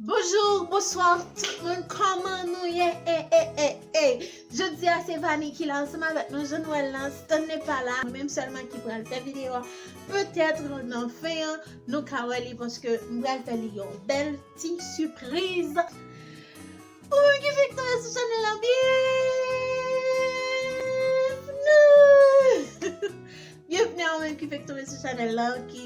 Bonjour, bonsoir tout moun, kòman nou ye e e e e Jodi a se Vani ki la ansanm avèk nou jan nou wè l lan Stanley pa la Mwen menm sèlman ki pral fè videyo a Petèt nan fen an nou ka wè li paske m pral fè li yon bèl ti sipriz Pou moun ki fèk tonbe sou chanèl la byenvni Byenvni a ou menm ki fèk tonbe sou chanèl la ki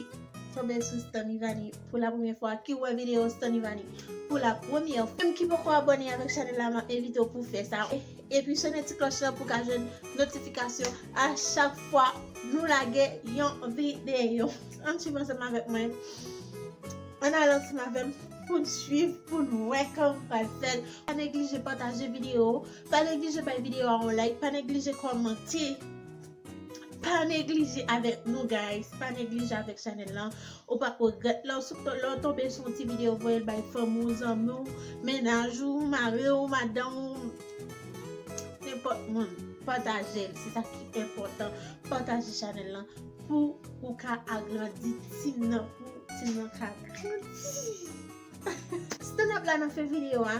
tonbe sou Stanivani pou la premyè fwa ki wè videyo Stanivani pou la premyè fwa ou menm ki poko abòne avèk chanèl la map envite ou pou fè sa epi sonnen ti klòch la pou ka jwenn notifikasyon a chak fwa nou lage yon videyo ann swiv ansanm avèk mwen ann al ansanm avèm. poun swiv poun wè kòman pral fèt pa neglije pataje video pa neglije bay video a yon like pa neglije kòmante pa neglije avèk nou guys pa neglije avèk chanèl lan ou pap regrèt lè ou tonbe sou yon ti video voyel bay fanmi ou zanmi ou mennaj ou mari ou madanm ou nenpòt moun patajel se sa ki enpòtan pataje chanèl lan pou ou ka agrandi team nan pou team nan ka Stand up la nan fen video a.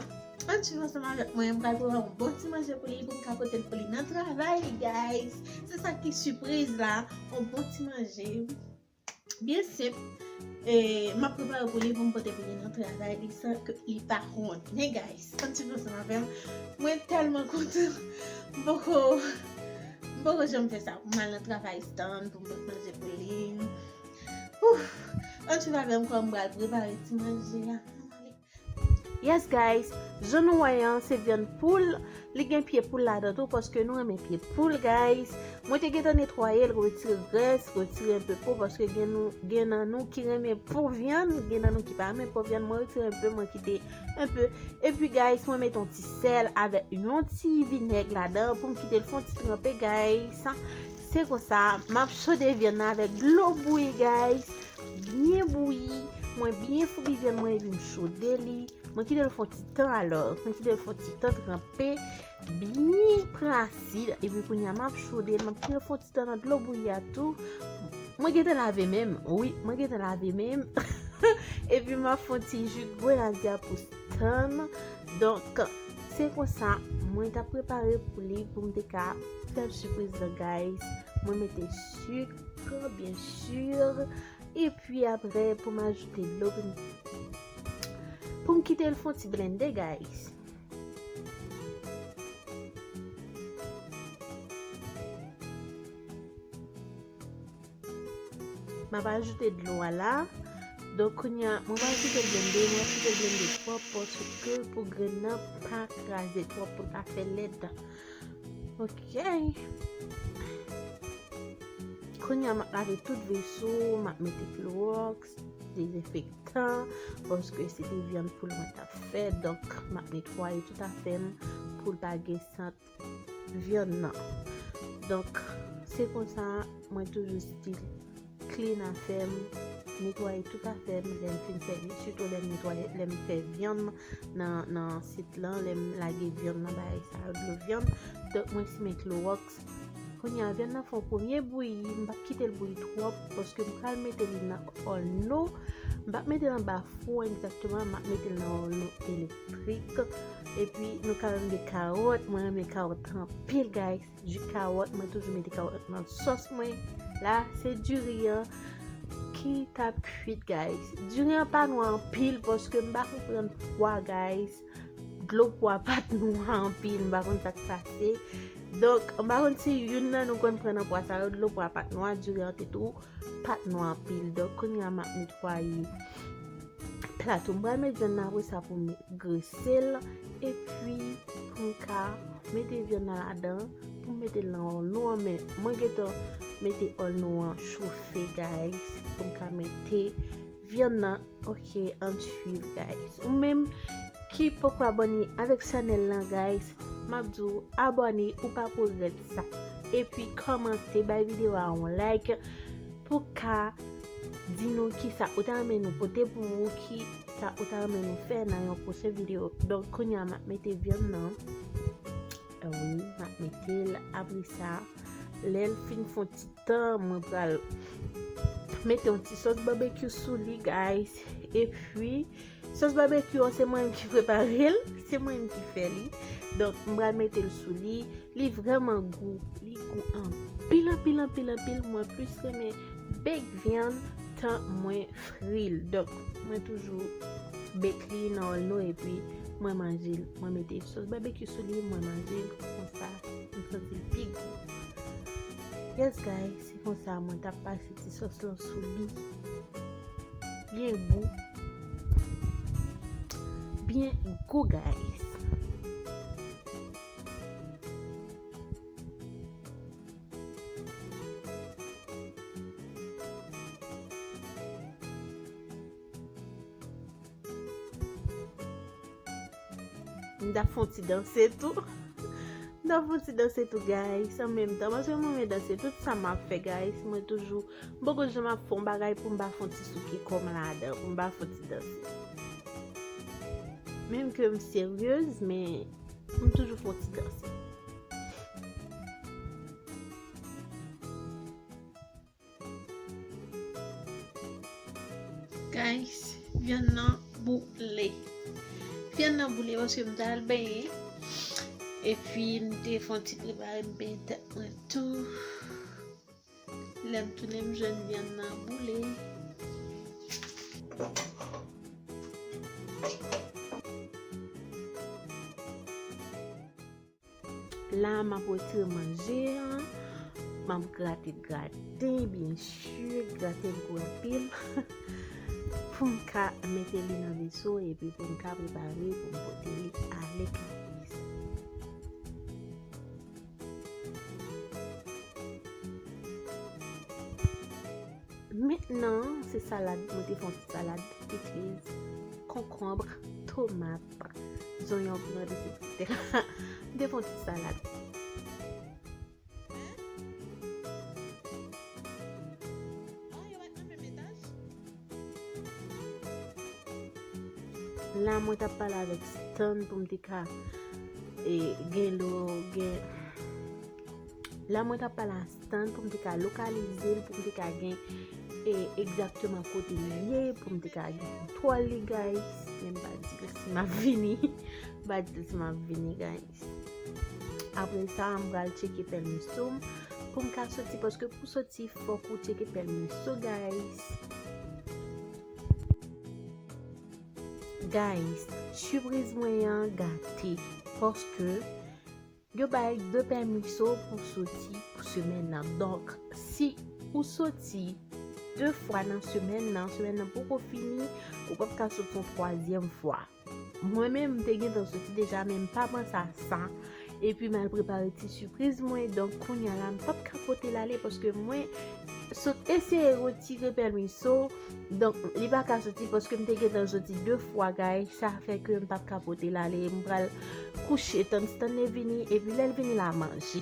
Ann swiv ansanm avèk mwen, m pral prepare yon bon ti manje pou li pou m ka pote l pou li nan travay li guys. Se sa ki sipriz la, yon bon ti manje byen senp e m ap prepare pou li pou m pote pou li nan travay li san ke li pa konnen guys. Ann swiv ansanm avè m. Mwen tèlman kontan. M poko m poko janm fè sa pou m al nan travay stand pou m pote manje pou li. Ouf, an tou ka gèm kòm bral prepare ti manje ya. Yes guys, jan nou wè an se vyann poul, li gen pye poul ladan tou paske nou renmen pye poul guys. Mwen te gentan netwayel, retire grès, retire enpe po paske gen nan nou ki renmen po vyann, gen nan nou ki pa renmen po vyann, mwen retire enpe mwen kite enpe. Epi guys mwen met yon ti sèl avèk yon ti vinèg ladan poum kitel fon ti tranpe guys. Se konsa map chode vyann nan avèk dlo bouyi guys, byen bouyi, mwen byen foubi vyann mwen epi m chode li, mwen kite l fon ti tan alò, mwen kite l fon ti tan tranpe, byen pran asid epi kounya map chode l, map kite l fon ti tan nan dlo bouyi a tou, mwen gentan lave men m, wi mwen gentan lave men m, epi map fon ti ji grenadya pou. tann donk se konsa mwen tap prepare pou li pou m te ka fèl sipriz nan guys mwen mete suk byen sur epi apre pou m ajoute dlo pou m pou m kite l fon ti blende guys Map ajoute dlo a la. Donk kounya mwen pa kite blende, mwen kite blende twòp paske pou grenn nan pa kraze twòp pou l pa fè lèt. Ok. Kounya map lave tout veso, map mete kloroks, dezenfektan, paske se te vyann poul mwen tap fè, donk map netwaye tout afèm pou l pa gen sant. vyann nan donk se konsa mwen toujou stil klin afèm netwaye tout afèm lèm fin sèvi sitou lèm netwaye lèm fè vyann nan sit lan lèm lage vyann nan bagay sa yo dlo vyann donk mwen simen kloroks kounye a vyann nan fè yon premye bouyi m pap kitel bouyi twòp paske m pral metel nan olno m pap metel anba fou egzakteman m ap metel nan olno elektrik. Frit epi nou ka wè m gen karot mwen renmen karot anpil guys ju karot mwen toujou mete karot nan sos mwen la se diri an ki tap kuit guys diri an pa nou anpil paske m pa konpran pwa guys dlo pwa pat nou anpil m pa konn sak pase donk m pa konn si youn nan nou konn pran nan pwa sa yo dlo pwa pat nou a diri an te tou pat nou anpil donk kounye a map netwaye Plato, m pral met vyann nan apre sa pou m grese l, epi pou m ka mete vyann nan ladan, pou m mete l nan olnou an, men mwen gentan mete olnou an chofe guys, pou m ka mete vyann nan, ok ann swiv guys. Ou menm ki poko abòne avèk chanèl lan guys, m ap di w abòne ou pa pou regrèt sa, epi kòmante bay videyo a yon like pou ka. Di nou kisa ou ta renmen nou pote pou ou, kisa ou ta renmen nou fè nan yon pwochen videyo. Donk kounye a m ap mete vyann nan. Wi, m ap mete l apre sa. Lè l fin fon ti tan, mwen pral mete yon ti sòs babekyou sou li guys. E pwi. Sos barbecue an se mwen menm ki preparel, se mwen menm ki fè li. Donk m pral mete l sou li, li vreman gou, li gou anpil anpil anpil anpil, mwen plis renmen bake vyann tan mwen fri l. Donk mwen toujou bake li nan olno epi mwen manje l, mwen mete sos barbecue sou li mwen manje l konsa, m santi l pi gou. Yes guys. Se konsa mwen tap pase ti sòs lan sou li. Byen gou. Byen gou guys. M tap fon ti danse tou. M tap fon ti danse tou guys. An menm tan. Paske mwen men danse. Tout sa m ap fè guys. Mwen toujou. M poko jan m ap fon bagay pou m pa fon ti souke kò m la adan. Pou m pa fon ti danse. Menm ke m seryez. Men. M toujou fon ti danse. Guys, vyann nan boule. Vyann nan boule paske m dal benye. E pi m te fon ti prepare m benye tèt mwen tou. Lèm tounen m jwenn vyann nan boule. La map retire manje an. Map grate graten byen su. Graten m gou anpil. Pou m ka mete li nan veso epi pou m ka prepare pou m pote li ale ka. Mentnan se salad mwen te fon ti salad. Piti konkonbre, tomat. Zonyon pran de se kite la. De fon ti salad. La mwen tap pale avèk stan pou m te ka e gen lò gen la mwen tap pale Stand pou m te ka lokalize l, pou m te ka gen e egzakteman kote li ye, pou m te ka gen kontwòl li guys. Men m pa di l si m ap vini. M pa di l si m ap vini guys. Apre sa m pral tcheke pèmiso m pou m ka soti paske pou soti fòk ou tcheke pèmiso guys. Guys, sipriz mwen an gate paske. Yo bay 2 pèmiso pou soti pou semèn nan. Donk, si ou soti 2 fwa nan semèn nan, semèn nan poko fini, ou pap ka soti yon twazyèm fwa. Mwen menm, m te gentan soti deja, men m pa panse a sa. Epi m al prepare ti sipriz mwen. Donk, kounya la, m pap ka pote l ale paske mwen sot eseye retire pèmiso. Donk li pa ka soti paske m te gentan soti 2 fwa guys sa fè ke m pap ka pote l ale m pral kouche tann Stanley vini epi lè l vini la manje.